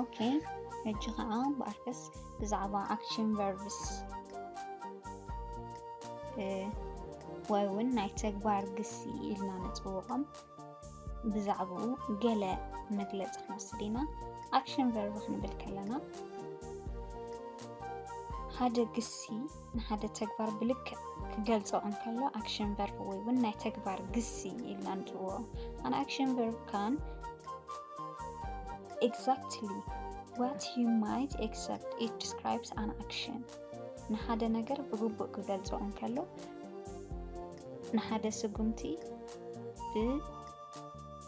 ኦኬ ሕጂ ከዓ ብኣርከስ ብዛዕባ ኣክሽን ቨርብስ ወይ እውን ናይ ተግባር ግሲ ኢልና ንፅውዖም ብዛዕባኡ ገለ መግለፂ ክንወስድ ኢና ኣክሽን ቨርብ ክንብል ከለና ሓደ ግሲ ንሓደ ተግባር ብልክዕ ክገልጾ እንከሎ ኣክሽን ቨርብ ወይ እውን ናይ ተግባር ግሲ ኢልና ንጽውዖ ኣን ኣክሽን ቨርብ ካን ኤግዛክትሊ ዋት ዩ ማይት ኤክሰፕት ኢት ዲስክራይብስ ኣን ኣክሽን ንሓደ ነገር ብግቡእ ክገልጾ እንከሎ ንሓደ ስጉምቲ ብ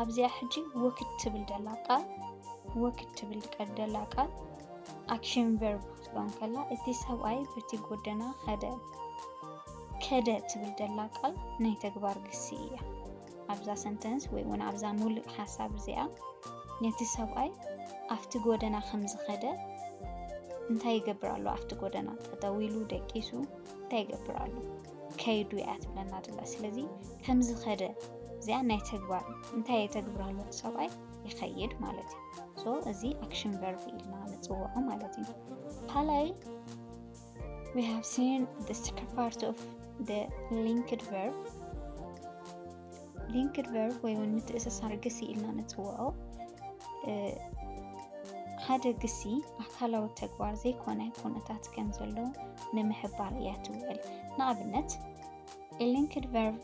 ኣብዚኣ ሕጂ ወክድ ትብል ደላ ቃል ወክድ ትብል ቀደላ ቃል ኣክሽን ቨርብ ክትብሎ ከላ እቲ ሰብኣይ በቲ ጎደና ከደ ከደ ትብል ደላ ቃል ናይ ተግባር ግሲ እያ። ኣብዛ ሰንተንስ ወይ እውን ኣብዛ ሙሉእ ሓሳብ እዚኣ ነቲ ሰብኣይ ኣብቲ ጎደና ከም ዝኸደ እንታይ ይገብር ኣሎ? ኣብቲ ጎደና ጠጠው ኢሉ ደቂሱ እንታይ ይገብር ኣሎ? ከይዱ እያ ትብለና ዘላ ስለዚ ከምዝኸደ እዚኣ ናይ ተግባር እንታይ የተግብራሉ ሰብኣይ ይኸይድ ማለት እዩ ሶ እዚ ኣክሽን ቨርብ ኢልና ንፅውዖ ማለት እዩ ካልኣይ we have seen the second part of the linked verb ሊንክድ ቨርብ ወይ እውን ምትእስሳር ግሲ ኢልና ንፅውዖ ሓደ ግሲ ኣካላዊ ተግባር ዘይኮነ ኩነታት ከም ዘሎ ንምሕባር እያ ትውዕል ንኣብነት ሊንክድ ቨርብ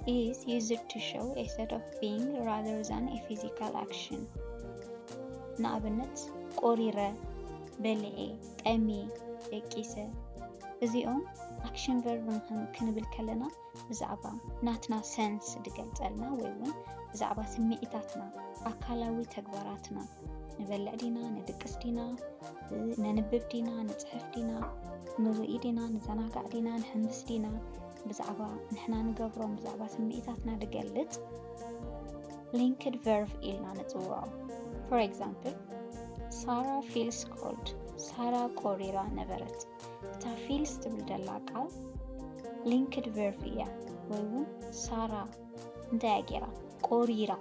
is used to show a set of being rather than a physical action ንኣብነት ቆሪረ በልዔ ጠሜ ደቂሰ እዚኦም ኣክሽን ቨርብ ክንብል ከለና ብዛዕባ ናትና ሰንስ ድገልጸልና ወይ እውን ብዛዕባ ስምዒታትና፣ ኣካላዊ ተግባራትና፣ ንበልዕ ዲና፣ ንድቅስ ዲና፣ ነንብብ ዲና፣ ንጽሕፍ ዲና፣ ንርኢ ዲና፣ ንዘናጋዕ ዲና፣ ንሕምስ ዲና፣ ብዛዕባ ንሕና ንገብሮም ብዛዕባ ስምዒታትና ድገልጽ ሊንክድ ቨርቭ ኢልና ንጽውዖ። ፎር ኤግዛምፕል ሳራ ፊልስ ኮልድ፣ ሳራ ቆሪራ ነበረት። እታ ፊልስ ትብል ደላ ቃል ሊንክድ ቨርፍ እያ ወይ እውን ሳራ እንታይ እያ ገይራ ቆሪራ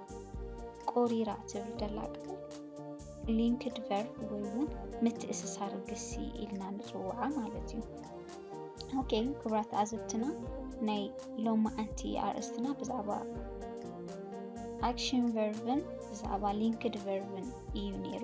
ቆሪራ ትብል ደላ ቃል ሊንክድ ቨርብ ወይ እውን ምትእስሳር ግሲ ኢልና ንፅውዓ ማለት እዩ ኦኬ ክብራት ኣዘብትና ናይ ሎማዓንቲ ኣርእስትና ብዛዕባ ኣክሽን ቨርብን ብዛዕባ ሊንክድ ቨርብን እዩ ነይሩ